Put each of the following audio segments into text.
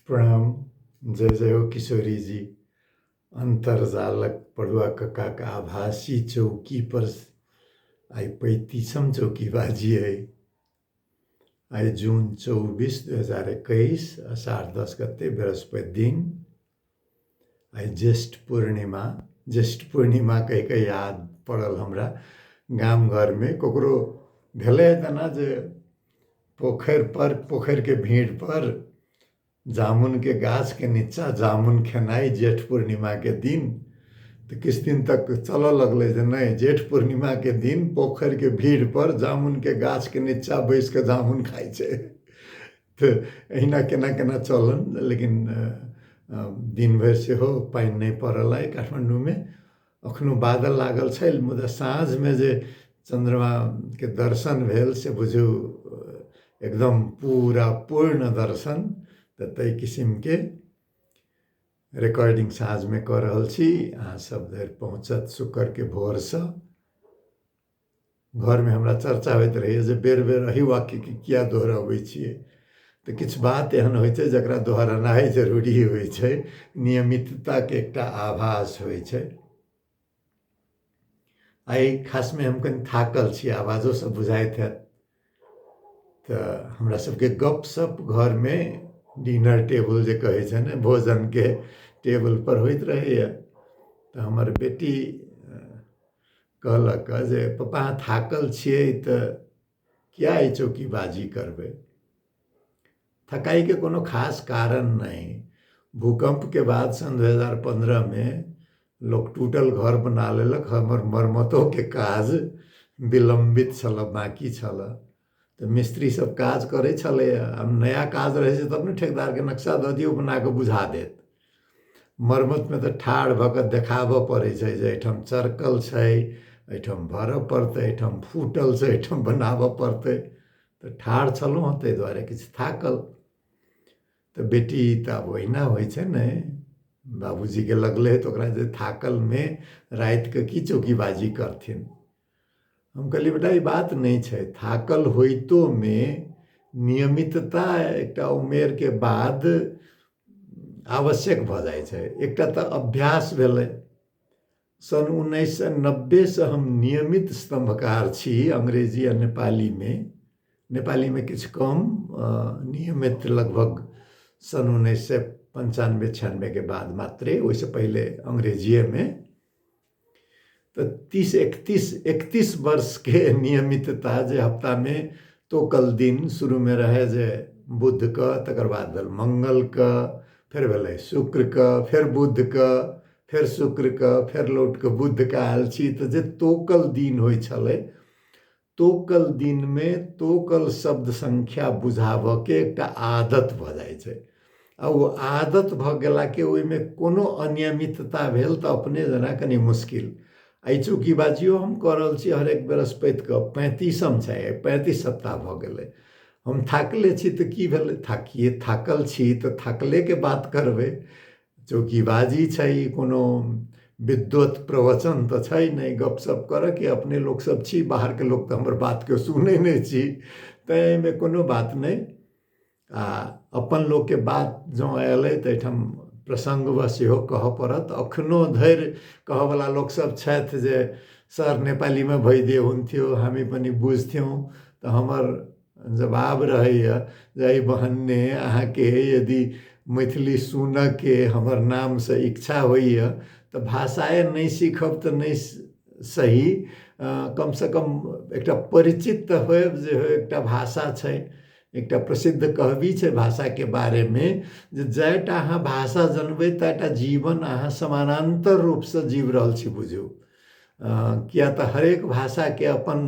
प्रणाम जय जय हो किशोरी जी अन्तर्जालक पड़ुआ कक्काक आभासी चौकी पर आइ पैंतीसम चौकी बाजी अइ आइ जून चौबीस दू हजार एकैस अषाढ़ दस गते बृहस्पति दिन आइ ज्येष्ठ पूर्णिमा ज्येष्ठ पूर्णिमा कहि कऽ याद पड़ल हमरा गाम घरमे ककरो भेलै तेना जे पोखरिपर पोखरिके भीड़पर जामुनके गाछके नीचाँ जामुन खेनाइ ज्येष्ठ पूर्णिमाके दिन तऽ किछु दिन तक चलऽ लगलै जे नहि जेठ पूर्णिमाके दिन पोखरिके भीड़पर जामुनके गाछके नीचाँ बैसि कऽ जामुन खाइ छै तऽ अहिना केना केना चलल लेकिन दिन भरि सेहो पानि नहि पड़ल अइ काठमाण्डूमे एखनो बादल लागल छै मुदा साँझमे जे चन्द्रमाके दर्शन भेल से बुझू एकदम पूरा पूर्ण दर्शन तऽ ताहि किसिमके रिकॉर्डिंग साँझमे कऽ रहल छी अहाँ सब धरि पहुँचत शुक्रके भोरसँ घरमे हमरा चर्चा होइत रहैए जे बेर बेर एही वाक्यके किए दोहरबै छियै तऽ किछु बात एहन होइ छै जकरा दोहरेनाइ जरूरी होइ छै नियमितताके एकटा आभास होइ छै आइ खासमे हम कनि थाकल छी आवाजोसँ बुझाइत हैत तऽ हमरा सबके गपशप घरमे डिनर टेबल जे कहै छै ने भोजनके टेबल पर होइत रहैए तऽ हमर बेटी कहलक जे पप्पा अहाँ थाकल छियै तऽ किए ई चौकीबाजी करबै थकाई के कोनो खास कारण नहि। भूकंप के बाद सन दू हजार पन्द्रह मे लोक टूटल घर बना लेलक हमर मरम्मतो के काज विलंबित छल बाकी छल त मिस्त्री सब काज करे छले आ नया काज रहे छै तब ने ठेकेदार के नक्शा द दियो बना के बुझा देत मरम्मत में त ठाढ़ भ के देखाबऽ पड़े छै जे एठाम चरकल छै एठाम भरऽ पड़ते एठाम फूटल छै एठाम बनाबऽ पड़ते तऽ ठाढ़ छलहुँ हँ ताहि दुआरे किछु थाकल तऽ बेटी तऽ आब ओहिना होइ छै ने बाबूजीके लगलै तऽ ओकरा जे थाकलमे रातिके की चौकीबाजी करथिन हम कहलियै बेटा ई बात नहि छै थाकल होइतोमे नियमितता एकटा उमेरके बाद आवश्यक भऽ जाइ छै एकटा तऽ अभ्यास भेलै सन् उन्नैस सय नब्बेसँ हम नियमित स्तम्भकार छी अङ्ग्रेजी आ नेपालीमे नेपालीमे किछु कम नियमित लगभग सन् उन्नैस सय पञ्चानबे छियानबेके बाद मात्रे ओहिसँ पहिले अङ्ग्रेजिएमे तऽ तीस एकतीस एकतीस वर्षके नियमितता जे हप्तामे तोकल दिन शुरूमे रहै जे बुधके तकर बाद भेल मङ्गलके फेर भेलै शुक्रके फेर बुधके फेर शुक्र के फेर लौट के बुध के आयल छी तऽ जे तोकल दिन होइ छलै तोकल दिन मे तोकल शब्द संख्या बुझाबऽ के एकटा आदत भऽ जाइ छै आ ओ आदत भऽ गेला के ओहि मे कोनो अनियमितता भेल तऽ अपने जेना कनी मुश्किल एहि चूँकि बाजियो हम कऽ रहल छी हरेक बृहस्पति के पैंतीसम छै पैंतीस सप्ताह भऽ गेलै हम थाकले छी तऽ की भेलै थाकिए थाकल छी तऽ थाकले के बात करबै चौकीबाजी छै ई कोनो विद्वत प्रवचन तऽ छै नहि गपशप करऽके अपने लोकसभ छी बाहरके लोक तऽ हमर बातके सुनै नहि छी तैँ एहिमे कोनो बात नहि आ अपन लोकके बात जँ अयलै तऽ एहिठाम प्रसङ्गवश सेहो कहऽ पड़त एखनो धरि कहऽवला लोकसभ छथि जे सर नेपालीमे भइ दे हुन्थ्यो हामी पनि बुझ्थ्यौँ तऽ हमर जवाब रहैए जे एहि बहाने अहाँके यदि मैथिली सुनऽके हमर नामसँ इच्छा होइए तऽ भाषाए नहि सीखब तऽ नहि सही कमसँ कम एकटा परिचित तऽ होएब जे हँ एकटा भाषा छै एकटा प्रसिद्ध कहबी छै भाषाके बारेमे जे जाएटा अहाँ भाषा जनबै ताएटा जीवन अहाँ समानान्तर रूपसँ जीवि रहल छी बुझू किएक तऽ हरेक भाषाके अपन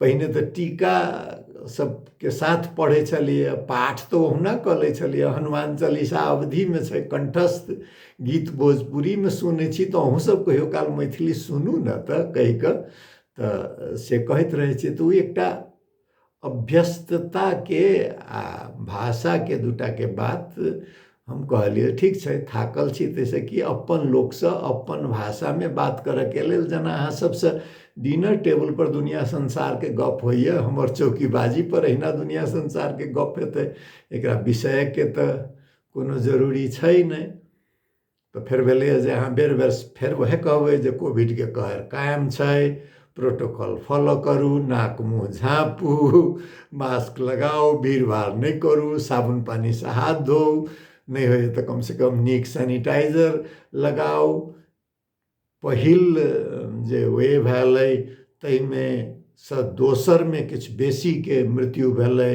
पहिने तऽ टीका सबके साथ पढ़ै छलियै पाठ तऽ ओहुना कऽ लै छलियै हनुमान चालीसा अवधिमे छै कण्ठस्थ गीत भोजपुरीमे सुनै छी तऽ अहूँसब कहियो काल मैथिली सुनू ने तऽ कहिकऽ तऽ से कहैत रहै छी तऽ ओ एकटा अभ्यस्तताके आ भाषाके दूटाके बात हम कहलियै ठीक छै थाकल छी ताहिसँ कि अपन लोकसँ अपन भाषामे बात करयके लेल जेना अहाँ सभसँ डिनर टेबलपर दुनिआँ संसारके गप्प होइए हमर चौकीबाजीपर अहिना दुनिआँ संसारके गप्प हेतै एकरा बिसरयके तऽ कोनो जरूरी छै नहि तऽ फेर भेलैए जे अहाँ बेर बेर फेर उएह कहबै जे कोविडके कहर कायम छै प्रोटोकॉल फॉलो करू नाक मुँह झाँपू मास्क लगाउ भीड़ भाड़ नहि करू साबुन पानिसँ हाथ धो नहि होइए तऽ कमसँ कम नीक सैनिटाइजर लगाउ पहिल जे वेव आयल अइ ताहिमे सँ दोसरमे किछु बेसीके मृत्यु भेलै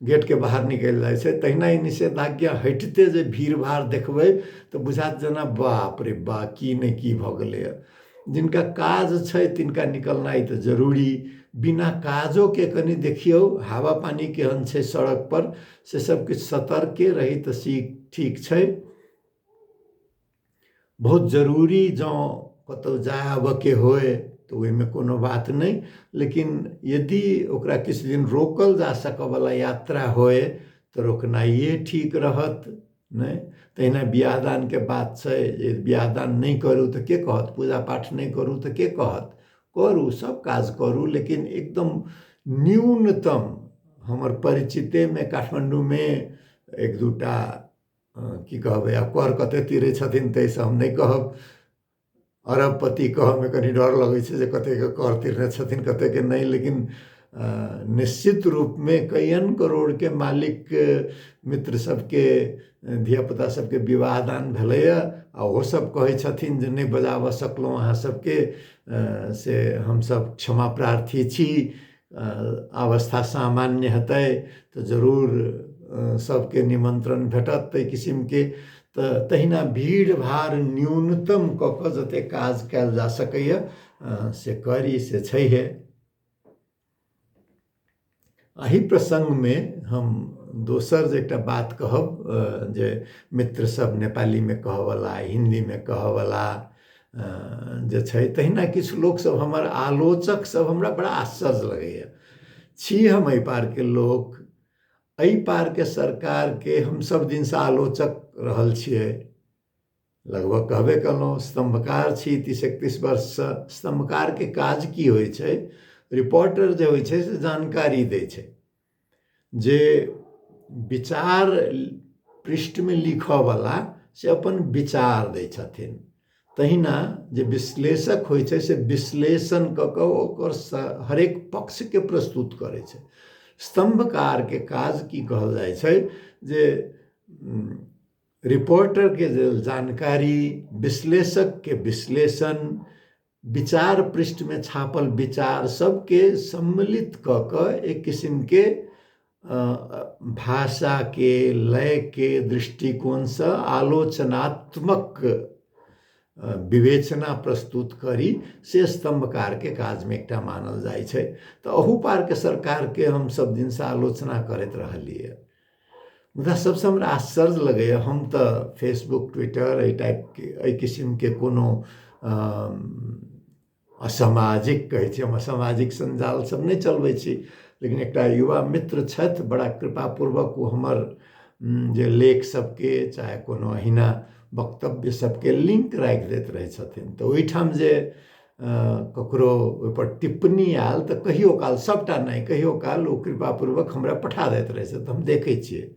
गेटके बाहर निकलि जाइ छै तहिना ई निषेधाज्ञा हटिते जे भीड़ भाड़ देखबै तऽ बुझायत जेना बाप रे बा की नहि की भऽ गेलैए जिनका काज छै तिनका निकलनाइ तऽ जरूरी बिना काजोके कनि देखियौ हवा पानि केहन छै सड़कपर से सभकिछु सतर्के रही तऽ सी ठीक छै बहुत जरूरी जँ कतहु जाय आबयके होय तऽ ओहिमे कोनो बात नहि लेकिन यदि ओकरा किछु दिन रोकल जा सकयवला यात्रा होय तऽ रोकनाइए ठीक रहत नहि तहिना बियाह दानके बात छै जे बियाह दान नहि करू तऽ के कहत पूजा पाठ नहि करू तऽ के कहत करू सभ काज करू लेकिन एकदम न्यूनतम हमर परिचितेमे काठमाण्डूमे एक दू टा की कहबै आब कर कते तीरै छथिन तै सँ हम नहि कहब अरबपति कहऽमे कनी डर लगै छै जे कतेके कर तीरने छथिन कतेके नहि लेकिन निश्चित रूपमे कइयन करोड़के मालिक मित्र सबके धिया पुता सबके विवाह दान भेलैय आओर ओहो सब कहै छथिन जे नहि बजाबऽ सकलहुँ अहाँ सबके से हमसब क्षमा प्रार्थी छी अवस्था सामान्य हेतै तऽ जरूर सभके निमन्त्रण भेटत ताहि किसिमके तऽ तहिना भीड़ भाड़ न्यूनतम कऽ कऽ जतेक काज कयल जा सकैए से करी से छैहे एहि प्रसङ्गमे हम दोसर जे एकटा बात कहब जे मित्रसभ नेपालीमे कहऽवला हिन्दीमे कहऽवला जे छै तहिना किछु लोक सब हमर आलोचक सब हमरा बड़ा आश्चर्य लगैया छी हम एहि पारके लोक एहि पारके सरकारके हम सब दिनसँ आलोचक रहल छियै लगभग कहबे कयलहुँ स्तम्भकार छी तीस एकतीस वर्षसँ स्तम्भकारके काज की होइ छै रिपोर्टर जे होइ छै से जानकारी दै छै जे विचार पृष्ठमे लिखऽवला से अपन विचार दै छथिन तहिना जे विश्लेषक होइ छै से विश्लेषण कऽ कऽ ओकर हरेक पक्षके प्रस्तुत करै छै स्तम्भकारके काज की कहल जाइ छै जे रिपोर्टरके जे जानकारी विश्लेषकके विश्लेषण विचार पृष्ठमे छापल विचार सबके सम्मिलित कऽ कऽ एक किसिमके भाषाके लयके दृष्टिकोणसँ आलोचनात्मक विवेचना प्रस्तुत करी से स्तम्भकारके काजमे एकटा मानल जाइ छै तऽ अहू पारके सरकारके हम सब दिनसँ आलोचना करैत रहलियै मुदा सबसँ हमरा आश्चर्य लगैए हम तऽ फेसबुक ट्विटर एहि टाइपके एहि किसिमके कोनो असामाजिक कहै छी हम असामाजिक सञ्जाल सब नहि चलबै छी लेकिन एकटा युवा मित्र छथि बड़ा कृपापूर्वक ओ हमर जे लेख सबके चाहे कोनो अहिना वक्तव्य सबके लिंक राखि दैत रहै छथिन तऽ ओहिठाम जे ककरो ओहिपर टिप्पणी आयल तऽ कहियो काल सभटा नहि कहियो काल ओ कृपापूर्वक हमरा पठा दैत रहै से तऽ हम देखै छियै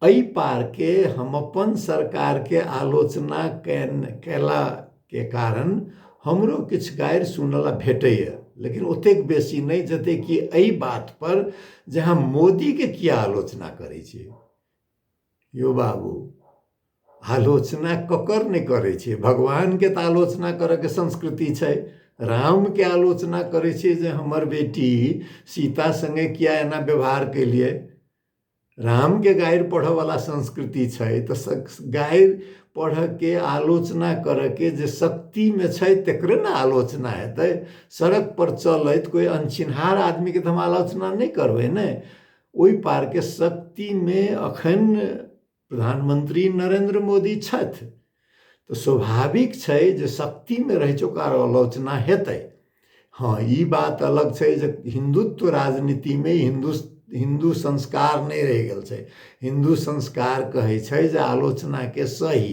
एहि पारके हम अपन सरकारके आलोचना कयलाके कारण हमरो किछु गारि सुनला भेटैए लेकिन ओतेक बेसी नहि जतेक कि एहि बातपर जे हम मोदीके किया आलोचना करै छी यो बाबू आलोचना ककर नहि करै छै भगवानके तऽ आलोचना करैके संस्कृति छै रामके आलोचना करै छै जे हमर बेटी सीता सङ्गे किया एना व्यवहार केलिए रामके गारि पढ़ऽवला संस्कृति छै तऽ गारि पढ़ऽके आलोचना करऽके जे शक्तिमे छै तकरे ने आलोचना हेतै सड़कपर चलैत कोइ अनचिन्हार आदमीके तऽ हम आलोचना नहि करबै ने ओहि पारके शक्तिमे एखन प्रधानमंत्री नरेंद्र मोदी छथि तऽ स्वाभाविक छै जे शक्तिमे रहै छै ओकर आलोचना हेतै हँ ई बात अलग छै जे हिंदुत्व राजनीतिमे हिंदु हिंदू संस्कार नहि रहि गेल छै हिंदू संस्कार कहै छै जे आलोचनाके सही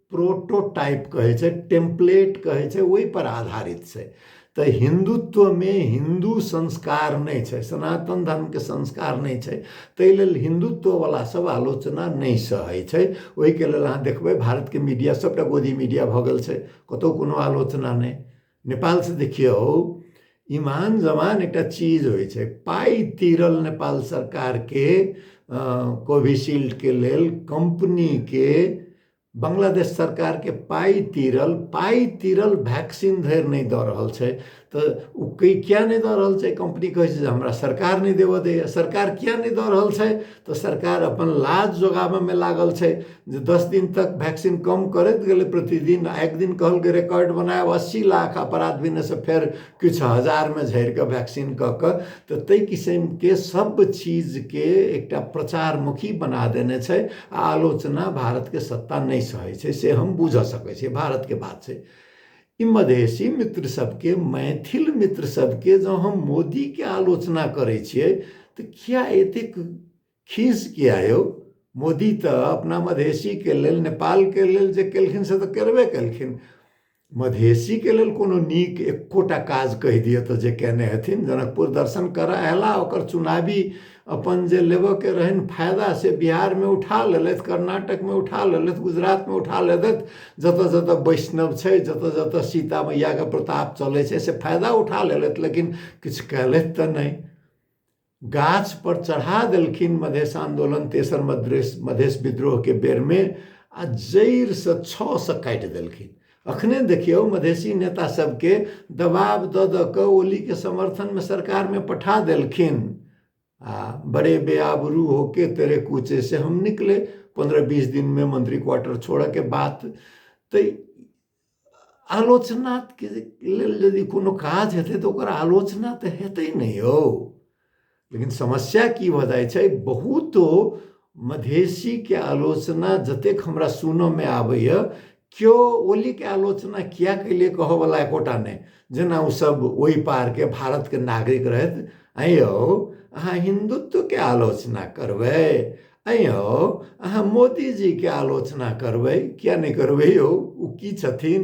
प्रोटोटाइप कहै छै टेम्पलेट कहै छै ओहिपर आधारित छै तऽ हिन्दुत्वमे हिन्दू संस्कार नहि छै सनातन धर्मके संस्कार नहि छै ताहि लेल हिन्दुत्ववला सभ आलोचना नहि सहै छै ओहिके लेल अहाँ देखबै भारतके मीडिया सभटा गोदी मीडिया भऽ गेल छै कतहु कोनो आलोचना नहि नेपालसँ देखियौ ईमान जमान एकटा चीज होइ छै पाइ तीरल नेपाल सरकारके कोविशील्डके लेल कम्पनीके बांग्लादेश सरकारके पाइ तीरल पाइ तीरल वैक्सीन धरि नहि दऽ रहल छै तऽ ओ किया नहि दऽ रहल छै कम्पनी कहै छै जे हमरा सरकार नहि देबऽ दैए सरकार किया नहि दऽ रहल छै तऽ सरकार अपन लाज जोगाबयमे लागल छै जे दस दिन तक वैक्सीन कम करैत गेलै प्रतिदिन आ एक दिन कहलकै रिकॉर्ड बनायब अस्सी लाख आ परात भेनेसँ फेर किछु हजारमे झड़ि कऽ वैक्सीन कऽ कऽ तऽ ताहि किसिमके सभ चीजके एकटा प्रचारमुखी बना देने छै आ आलोचना भारतके सत्ता नहि सहै छै से हम बूझय सकै छियै भारतके बात छै ई मधेसी मित्र सबके मैथिल मित्र सबके जँ हम मोदीके आलोचना करै छियै तऽ किया एतेक खीस किया यौ मोदी तऽ अपना मधेसीके लेल नेपालके लेल जे केलखिन से तऽ करबे केलखिन मधेसीके लेल कोनो नीक एकोटा काज कहि दिअ तऽ जे कयने हेथिन जनकपुर दर्शन करय अयला ओकर चुनावी अपन जे लेबयके रहनि फायदा से बिहारमे उठा लेलथि कर्नाटकमे उठा लेलथि गुजरातमे उठा लेलथि जतय जतय वैष्णव छै जतय जतय सीता मैयाके प्रताप चलै छै से फायदा उठा लेलथि लेकिन किछु कयलथि तऽ नहि गाछपर चढ़ा देलखिन मधेश आन्दोलन तेसर मधेश मधेश विद्रोहके बेरमे आ जड़िसँ छओसँ काटि देलखिन अखने देखियौ मधेसी नेता सबके दबाब दऽ दऽ कऽ ओलीके समर्थनमे सरकारमे पठा देलखिन आ बड़े बेआबरू होके तेरे कूचे से हम निकले पन्द्रह बीस दिनमे मंत्री क्वार्टर छोड़ऽके बात तऽ आलोचनाके लेल यदि कोनो काज हेतै तऽ ओकर आलोचना तऽ हेतै ने यौ लेकिन समस्या की भऽ जाइ छै बहुतो मधेसीके आलोचना जतेक हमरा सुनऽमे आबैए केओ ओलीके आलोचना किया कैले कहऽवला एकोटा नहि जेना ओसभ ओहि पारके भारतके नागरिक रहथि ऐं यौ अहाँ हिन्दुत्वके आलोचना करबै ऐं यौ अहाँ मोदीजीके आलोचना करबै किया नहि करबै यौ ओ की छथिन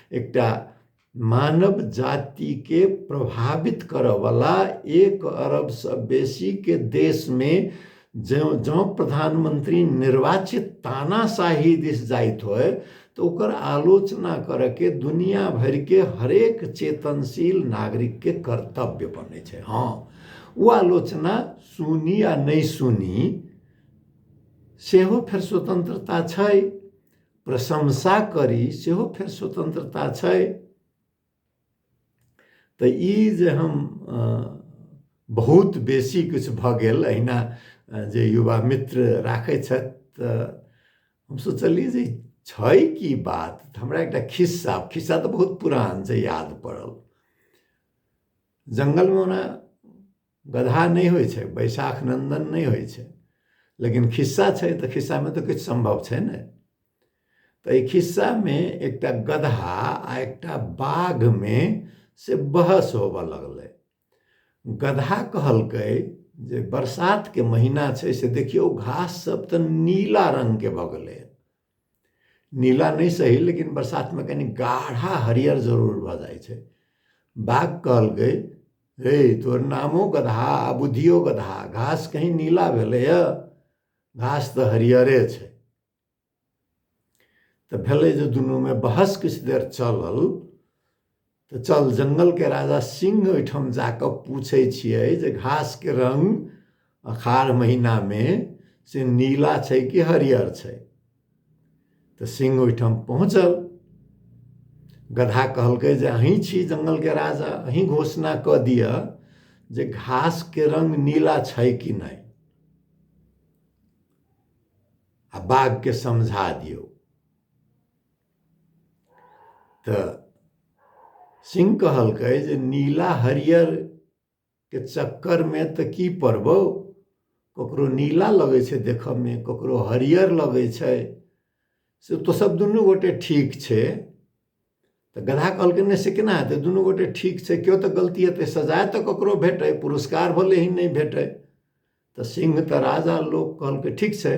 एकटा मानव जातिके प्रभावित करऽवला एक अरबसँ बेसीके देशमे जँ जँ प्रधानमन्त्री निर्वाचित तानाशाही दिस जाइत होइ तऽ ओकर आलोचना करऽके दुनिया भरिके हरेक चेतनशील नागरिकके कर्तव्य बनै छै हँ ओ आलोचना सुनी या नहि सुनी सेहो फेर स्वतन्त्रता छै प्रशंसा करी सेहो फेर स्वतंत्रता छै तऽ ई जे हम बहुत बेसी किछु भऽ गेल अहिना जे युवा मित्र राखै छथि तऽ हम सोचलियै जे छै की बात तऽ हमरा एकटा खिस्सा खिस्सा तऽ बहुत पुरान छै याद पड़ल जङ्गलमे ओना गदहा नहि होइ छै बैशाख नन्दन नहि होइ छै लेकिन खिस्सा छै तऽ खिस्सामे तऽ किछु सम्भव छै ने तऽ एहि खिस्सामे एकटा गदहा आ एकटा बाघमे से बहस होबऽ लगलै गदहा कहलकै जे बरसातके महीना छै से देखियौ घास सब तऽ नीला रङ्गके भऽ गेलै नीला नहि सही लेकिन बरसातमे कनि गाढ़ा हरियर जरूर भऽ जाइ छै बाघ कहलकै हे तोहर नामो गदहा आ बुद्धियो गदहा घास कहीं नीला भेलैए घास तऽ हरियरे छै तऽ भेलै जे दुनूमे बहस किछु देर चलल तऽ चल जङ्गलके राजा सिंह ओहिठाम जा कऽ पूछै छियै जे घासके रङ्ग अखाढ़ महीनामे से नीला छै कि हरियर छै तऽ सिंह ओहिठाम पहुँचल गधा कहलकै जे अहीं छी जङ्गलके राजा अहीं घोषणा कऽ दिअ जे घासके रङ्ग नीला छै कि नहि आ बाघके समझा दियौ तऽ सिंह कहलकै जे नीला हरियर के चक्कर मे तऽ की पड़बौ ककरो नीला लगै छै देखऽ मे ककरो हरियर लगै छै से तो सब दुनू गोटे ठीक छै तऽ गधा कहलकै नहि से केना हेतै दुनू गोटे ठीक छै केओ तऽ गलती हेतै सजा तऽ ककरो भेटै पुरस्कार भले ही नहि भेटै तऽ सिंह तऽ राजा लोक कहलकै ठीक छै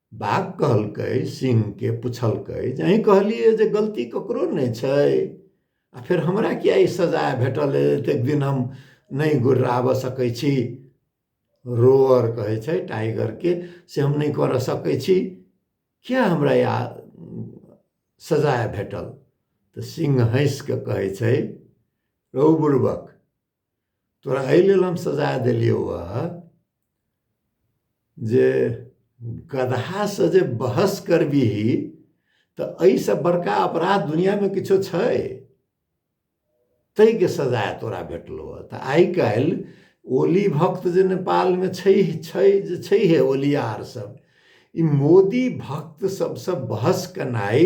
बाघ कहलकै सिंहके पुछलकै जे अहीँ कहलियै जे गलती ककरो नहि छै आ फेर हमरा किया ई सजाय भेटल एतेक दिन हम नहि गुर्राबऽ सकै छी रोअर कहै छै टाइगरके से हम नहि करऽ सकै छी किया हमरा या सजाय भेटल तऽ सिंह हँसि कऽ कहै छै रौ बुड़बक तोरा एहि लेल हम सजा देलियौ हँ जे गदहासँ जे बहस करबिही तऽ एहिसँ बड़का अपराध दुनिआँमे किछो छै ताहिके सजा तोरा भेटलौ हँ तऽ आइ काल्हि ओली भक्त जे नेपालमे छै छै जे छैहे ओलियार सब ई मोदी भक्त सबसँ बहस केनाइ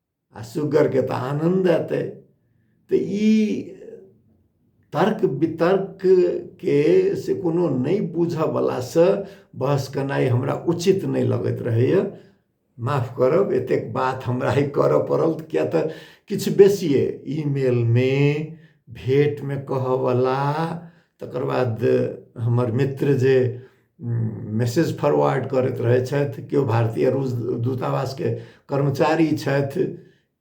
आ सुगरके तऽ आनन्द एतै तऽ ई तर्क वितर्कके से कोनो नहि बुझऽवलासँ बहस केनाइ हमरा उचित नहि लगैत रहैए माफ करब एतेक बात हमरा ई करऽ पड़ल किएक तऽ किछु बेसिए ईमेलमे भेँटमे कहऽवला तकर बाद हमर मित्र जे मैसेज फॉरवर्ड करैत रहै छथि केओ भारतीय रूस दूतावासके कर्मचारी छथि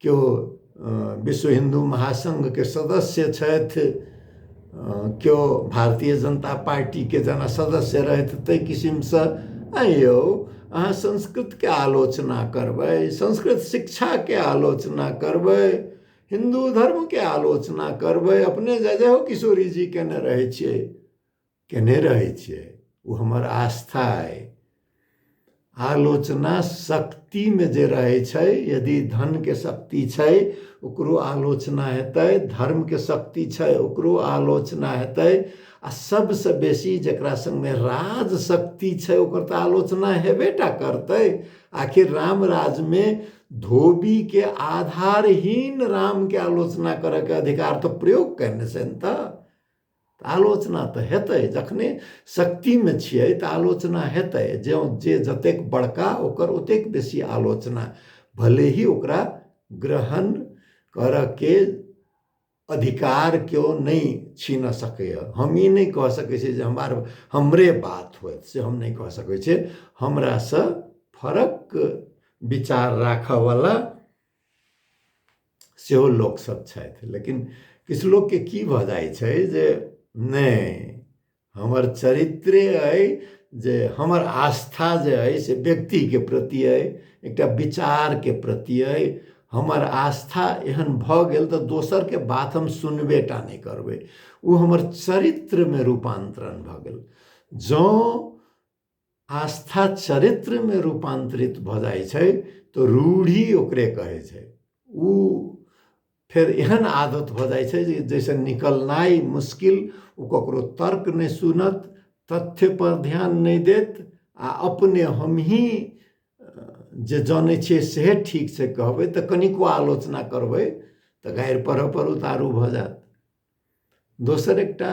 केओ विश्व हिन्दू महासङ्घके सदस्य छथि केओ भारतीय जनता पार्टीके जेना सदस्य रहथि ताहि किसिमसँ आँय यौ अहाँ संस्कृतके आलोचना करबै संस्कृत शिक्षाके आलोचना करबै हिन्दू धर्मके आलोचना करबै अपने जय जय हो किशोरी जी कयने रहै छियै केने रहै छै ओ हमर आस्था अइ आलोचना शक्तिमे जे रहै छै यदि धनके शक्ति छै ओकरो आलोचना हेतै धर्मके शक्ति छै ओकरो आलोचना हेतै आ सबसँ बेसी जकरा सङ्गमे राज शक्ति छै ओकर तऽ आलोचना हेबे टा करतै आखिर राम राजमे धोबीके आधारहीन रामके आलोचना करयके अधिकार तऽ प्रयोग कयने छनि तऽ तऽ आलोचना तऽ हेतै जखने शक्तिमे छियै तऽ आलोचना हेतै जँ जे जतेक बड़का ओकर ओतेक बेसी आलोचना भले ही ओकरा ग्रहण करऽके अधिकार केओ नहि छीन सकैए हम ई नहि कऽ सकै छी जे हमर हमरे बात होयत से हम नहि कऽ सकै छी हमरासँ फरक विचार राखऽवला सेहो लोकसभ छथि लेकिन किछु लोकके की भऽ जाइ छै जे नहि हमर चरित्रे अइ जे हमर आस्था जे अइ से व्यक्तिके प्रति अइ एकटा विचारके प्रति अइ हमर आस्था एहन भऽ गेल तऽ दोसरके बात हम सुनबे टा नहि करबै ओ हमर चरित्रमे रूपान्तरण भऽ गेल जँ आस्था चरित्रमे रूपान्तरित भऽ जाइ छै तऽ रूढ़ी ओकरे कहै छै ओ फेर एहन आदत भऽ जाइ छै जे जैसे निकलनाइ मुश्किल ओ ककरो तर्क नहि सुनत तथ्य पर ध्यान नहि देत आ अपने हमही जे जानै छियै सेहे ठीक छै कहबै तऽ कनिको आलोचना करबै तऽ गारि पढ़ऽ पर उतारू भऽ जायत दोसर एकटा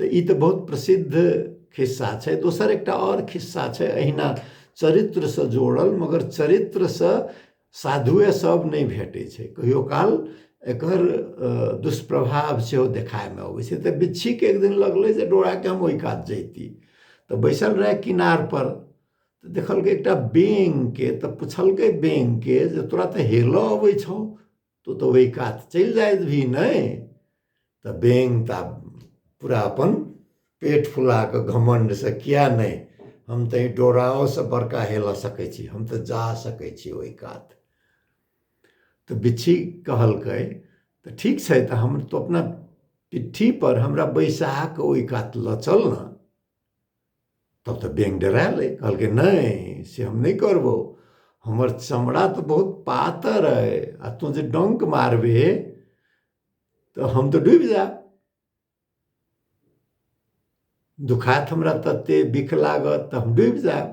तऽ ई तऽ बहुत प्रसिद्ध खिस्सा छै दोसर एकटा आओर खिस्सा छै अहिना चरित्रसँ जोड़ल मगर चरित्रसँ साधुए सभ नहि भेटै छै कहियो काल एकर दुष्प्रभाव सेहो देखायमे अबै छै तऽ बिच्छीके एक दिन लगलै जे डोराके हम ओहि कात जैती तऽ बैसल रहै किनारपर तऽ देखलकै एकटा बेंगके तऽ पुछलकै बेंगके जे तोरा तऽ हेलय अबै छौ तो तऽ ओहि कात चलि जाइत भी नहि तऽ बेंग तऽ पूरा अपन पेट फुला कऽ घमण्डसँ किया नहि हम तऽ डोराओसँ बड़का हेल सकै छी हम तऽ जा सकै छी ओहि कात तऽ बिच्छी कहलकै तऽ ठीक छै तऽ हम तो अपना पिट्ठीपर हमरा बैसा कऽ ओहि कात लऽ चल ने तब तऽ बेंग डरायलै कहलकै नहि से हम नहि करबौ हमर चमड़ा तऽ बहुत पातर अइ आ तू जे डंक मारबे तऽ हम तऽ डूबि जायब दुखात हमरा तते बिख लागत तऽ हम डूबि जायब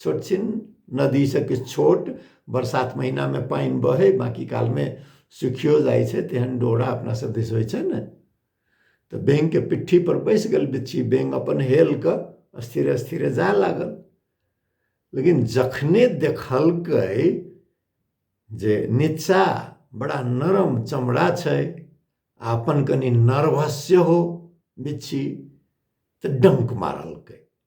छोट छिन नदीसँ किछु छोट बरसात महिनामे पानि बहै बाँकी कालमे सुखियो जाइ छै तेहन डोरा अपना सब दिस होइ छै ने तऽ बेंगके पिट्ठी पर बैसि गेल बिच्छी बेंग अपन हेल कऽ स्थिरे स्थिरे जाय लागल लेकिन जखने देखलकै जे नीचा बड़ा नरम चमड़ा छै आ अपन कनि नर्वस सेहो बिच्छी तऽ डङ्क मारलकै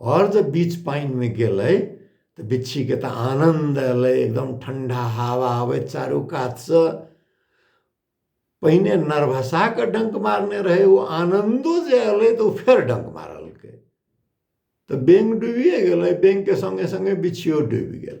आओर जे बीच पानिमे गेलै तऽ बिच्छीके तऽ आनन्द अयलै एकदम ठण्ढा हवा अबै चारू कातसँ पहिने नरभसा कऽ डङ्क मारने रहै ओ आनन्दो जे अयलै तऽ ओ फेर डङ्क मारलकै तऽ बेङ्ग डूबिए गेलै बेङ्गके सङ्गे सङ्गे बिच्छिओ डूबि गेल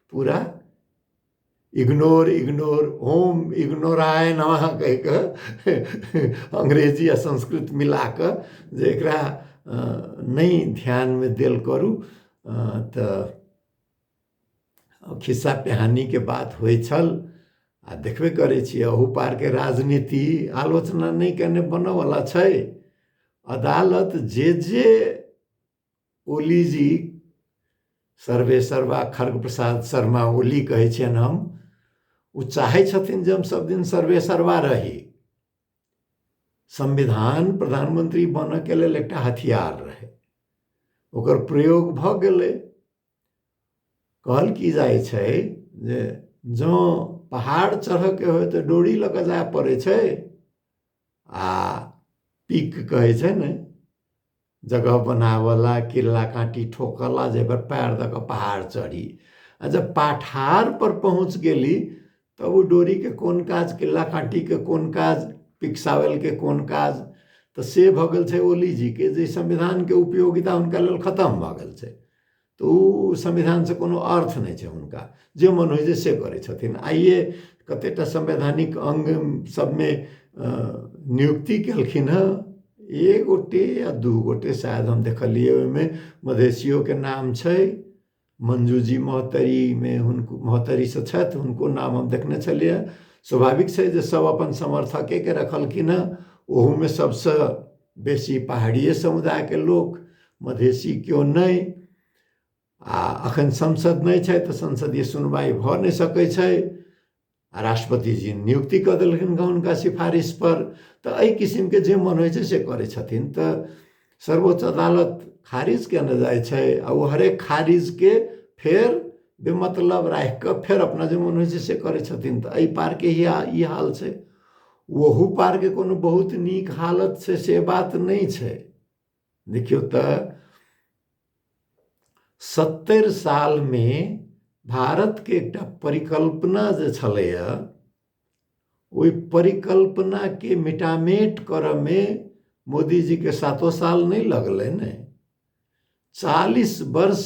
पूरा इग्नोर इग्नोर ओम इग्नोराय नमः कहि कऽ अंग्रेजी आ संस्कृत मिला कऽ जे एकरा नहि ध्यानमे देल करू तऽ खिस्सा पिहानीके बात होइ छल आ देखबे करै छियै अहू पारके राजनीति आलोचना नहि कयने बनयवला छै अदालत जे जे ओली जी सर्वे सर्वा खर्ग प्रसाद शर्मा ओली कहै छियनि हम ओ चाहै छथिन जे हम सब दिन सर्वे सर्वा रही संविधान प्रधानमंत्री बनऽके लेल एकटा हथियार रहै ओकर प्रयोग भऽ गेलै कहल की जाइ छै जे जँ पहाड़ चढ़ऽके होय तऽ डोरी लऽ कऽ जाय पड़ै छै आ पीक कहै छै ने जगह बनावला किल्ला काँटी ठोकला जे एकर पैर दऽ कऽ पहाड़ चढ़ी आ जब पठार पर पहुँच गेली तब ओ डोरीके कोन काज किल्ला काँटीके कोन काज पिकसावलके कोन काज तऽ से भऽ गेल छै ओलीजीके जे संविधानके उपयोगिता हुनका लेल खतम भऽ गेल छै तऽ ओ संविधानसँ कोनो अर्थ नहि छै हुनका जे मन होइ छै से करै छथिन आइए कतेक टा संवैधानिक अङ्ग सभमे नियुक्ति केलखिन हँ एक गोटे या दू गोटे शायद हम देखलियै ओहिमे मधेशियोके नाम छै मंजूजी महतरीमे हुनको महतरीसँ छथि हुनको नाम हम देखने छलियै स्वाभाविक छै जे सभ अपन समर्थकेके रखलखिन हँ ओहूमे सभसँ बेसी पहाड़िए समुदायके लोक मधेसी केओ नहि आ अखन संसद नहि छै तऽ संसदीय सुनवाइ भऽ नहि सकै छै आ राष्ट्रपति जी नियुक्ति कऽ देलखिन हँ हुनका सिफारिश पर तऽ एहि किसिमके जे मन होइ छै से करै छथिन तऽ सर्वोच्च अदालत खारिज केने जाइ छै आ ओ हरेक खारिजके फेर बेमतलब राखि कऽ फेर अपना जे मन होइ छै से करै छथिन तऽ एहि पारके इएह ई हाल छै ओहू पारके कोनो बहुत नीक हालत छै से बात नहि छै देखियौ तऽ सत्तरि सालमे भारतके एकटा परिकल्पना जे छलैए ओहि परिकल्पनाके मिटामेट करऽमे मोदीजीके सातो साल नहि लगलनि चालीस वर्ष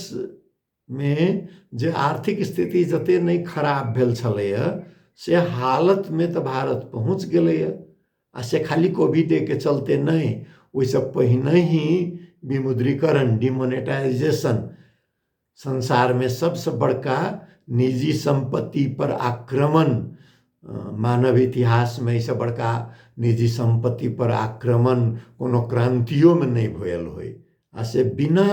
मे जे आर्थिक स्थिति जते नहि खराब भेल छलैए से हालतमे तऽ भारत पहुँच गेलैए आ से खाली कोविडेके चलते नहि ओहिसँ पहिनहि विमुद्रीकरण डिमोनेटाइजेशन संसारमे सभसँ बड़का निजी सम्पत्ति पर आक्रमण मानव इतिहासमे एहिसँ बड़का निजी सम्पत्ति पर आक्रमण कोनो क्रान्तियोमे नहि भेल होय आ से बिना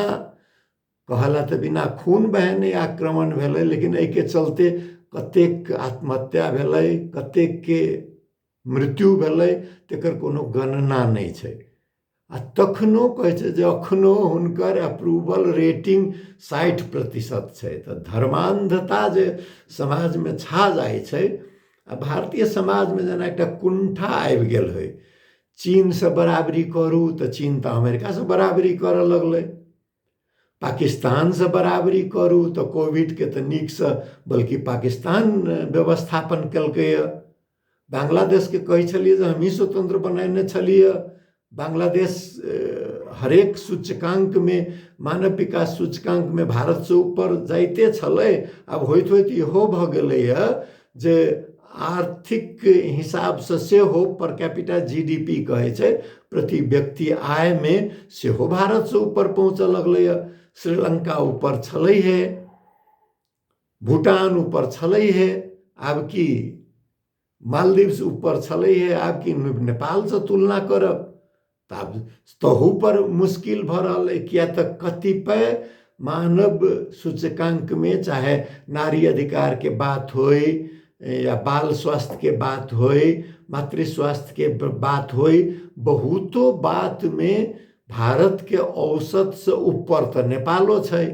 कहला तऽ बिना खून बहे नहि आक्रमण भेलै लेकिन एहिके चलते कतेक आत्महत्या भेलै कतेकके मृत्यु भेलै तकर कोनो गणना नहि छै आ तखनो कहै छै जे अखनो हुनकर अप्रूवल रेटिंग साठि प्रतिशत छै तऽ धर्मान्धता जे समाजमे छा जाइ छै आ भारतीय समाजमे जेना एकटा कुण्ठा आबि गेल होइ चीनसँ बराबरी करू तऽ चीन तऽ अमेरिकासँ बराबरी करय लगलै पाकिस्तानसँ बराबरी करू तऽ कोविडके तऽ नीकसँ बल्कि पाकिस्तान व्यवस्थापन केलकैए बांग्लादेशके कहै छलियै जे हमही स्वतंत्र बनेने छलियै बांग्लादेश हरेक सूचकाङ्कमे मानव विकास सूचकाङ्कमे भारतसँ ऊपर जाइते छलै आब होइत होइत इहो भऽ गेलैए जे आर्थिक हिसाबसँ सेहो per capita G D P कहै छै प्रति व्यक्ति आयमे सेहो भारतसँ ऊपर पहुँचऽ लगलैए श्रीलंका ऊपर छलै हे भूटान ऊपर छलै हे आब की मालदीव्स ऊपर छलै हे आब की नेपालसँ तुलना करब तऽ आब तहूपर मुश्किल भऽ रहल अइ किए तऽ कतिपय मानव सूचकाङ्कमे चाहे नारी अधिकारके बात होइ या बाल स्वास्थ्यके बात होइ मातृ स्वास्थ्यके बात होइ बहुतो बातमे भारतके औसतसँ ऊपर तऽ नेपालो छै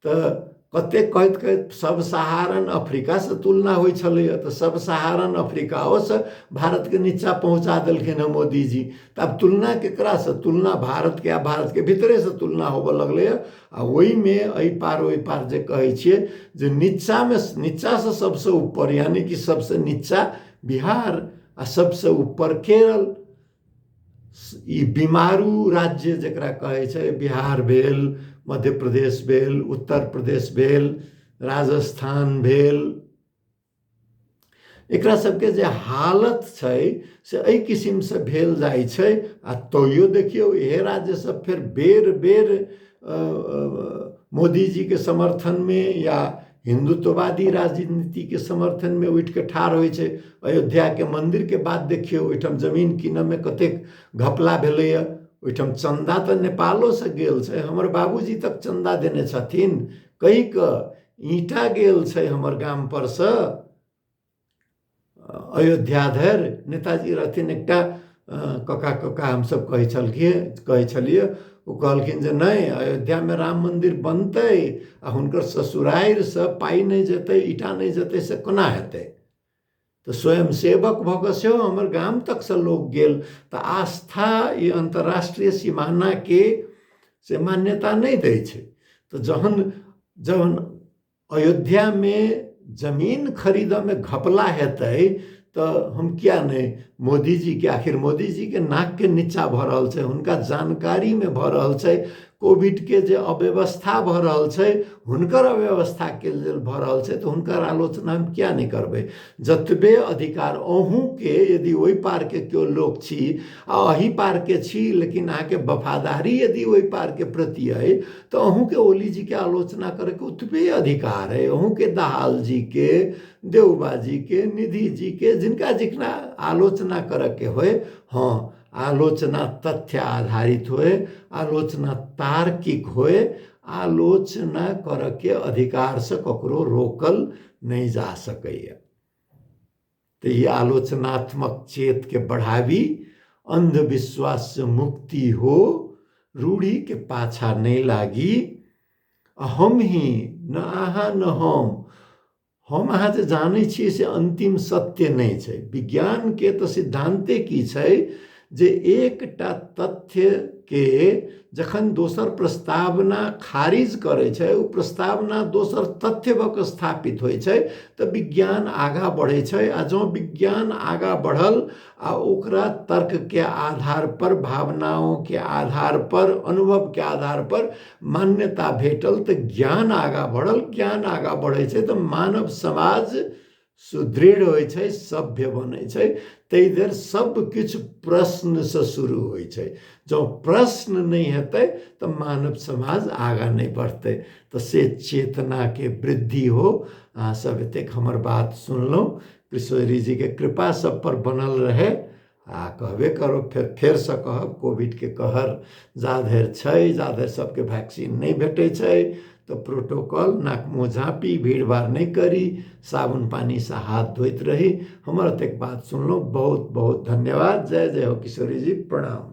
तऽ कते कहैत कहैत सब सहारन अफ्रीकासँ तुलना होइ छलैए तऽ सब सहारन अफ्रीकाओसँ भारतके नीचाँ पहुँचा देलखिन हँ मोदीजी तऽ आब तुलना केकरासँ तुलना भारतके आ भारतके भीतरेसँ तुलना होबऽ लगलैए आ ओहिमे एहि पार ओहि पार जे कहै छियै जे नीचाँमे नीचाँसँ सबसँ ऊपर यानि कि सबसँ नीचाँ बिहार आ सबसँ ऊपर केरल ई बीमारू राज्य जकरा कहै छै बिहार भेल मध्य प्रदेश भेल उत्तर प्रदेश भेल राजस्थान भेल एकरा सबके जे हालत छै से एहि किसिमसँ भेल जाइ छै आ तैयो देखियौ इहे राज्य सब फेर बेर बेर मोदीजीके समर्थनमे या हिन्दुत्ववादी राजनीतिके समर्थनमे उठि कऽ ठाढ़ होइ छै अयोध्याके मन्दिरके बात देखियौ ओहिठाम जमीन कीनयमे कतेक घपला भेलैए ओहिठाम चन्दा तऽ नेपालोसँ गेल छै हमर बाबूजी तक चन्दा देने छथिन कहि कऽ ईंटा गेल छै हमर गामपर सँ अयोध्या धरि नेताजी रहथिन एकटा कका कका हमसभ कहै छलखियै कहै छलियै ओ कहलखिन जे नहि अयोध्यामे राम मन्दिर बनतै आ हुनकर ससुरारिसँ पाइ नहि जेतै ईटा नहि जेतै से कोना हेतै तऽ स्वयं सेवक भऽ कऽ सेहो हमर गाम तकसँ लोक गेल तऽ आस्था ई अन्तर्राष्ट्रीय सिमानाके से मान्यता नहि दै छै तऽ जहन जहन अयोध्या में जमीन खरीद में घपला हेतै तो हम क्या नहीं मोदी जी के आखिर मोदी जी के नाक के नीचा भ रहल छै हुनका जानकारी में भ रहल छै कोविड के जे अव्यवस्था भ रहल छै हुनकर अव्यवस्था के लेल भ रहल छै तो हुनकर आलोचना हम क्या नहीं करबै जतबे अधिकार अहूँ के यदि ओहि पार के केओ लोक छी आ अही पार के छी लेकिन अहाँ के वफादारी यदि ओहि पार के प्रति अइ तऽ अहूँके ओली जीके आलोचना करैके ओतबे अधिकार अइ अहूँके दहाल जीके देउबा जीके निधि जीके जिनका जिनका आलोचना करैके होइ हँ आलोचना तथ्य आधारित होइ आलोचना तार्किक होइ आलोचना करऽके अधिकारसँ ककरो रोकल नहि जा सकैए तऽ ई आलोचनात्मक चेतके बढ़ाबी अन्धविश्वाससँ मुक्ति हो रूढ़ीके पाछा नहि लागी आ हम ही न अहाँ न हम हम अहाँ जे जानै छियै से अन्तिम सत्य नहि छै विज्ञानके तऽ सिद्धान्ते की छै जे एकटा तथ्य के जखन दोसर प्रस्तावना खारिज करै छै ओ प्रस्तावना दोसर तथ्य भऽ कऽ स्थापित होइ छै तऽ विज्ञान आगाँ बढ़ै छै आ जँ विज्ञान आगाँ बढ़ल आ ओकरा तर्क के आधार पर भावनाओं के आधार पर अनुभव के आधार पर मान्यता भेटल तऽ ज्ञान आगाँ बढ़ल ज्ञान आगाँ बढ़ै छै तऽ मानव समाज सुदृढ़ होइ छै सभ्य बनै छै ताहि देर सभकिछु प्रश्नसँ शुरू होइ छै जँ प्रश्न नहि हेतै तऽ मानव समाज आगाँ नहि बढ़तै तऽ से चेतनाके वृद्धि हो अहाँसभ एतेक हमर बात सुनलहुँ किशोरीजीके कृपा सभपर बनल रहय आ कहबे करब फेर फेरसँ कहब कोविडके कहर जा धरि छै जा धरि सभके वैक्सीन नहि भेटै छै तऽ प्रोटोकॉल नाक मुँह झाँपी भीड़ भाड़ नहि करी साबुन पानिसँ हाथ धोइत रही हमर एतेक बात सुनलहुँ बहुत बहुत धन्यवाद जय जय हो किशोरी जी प्रणाम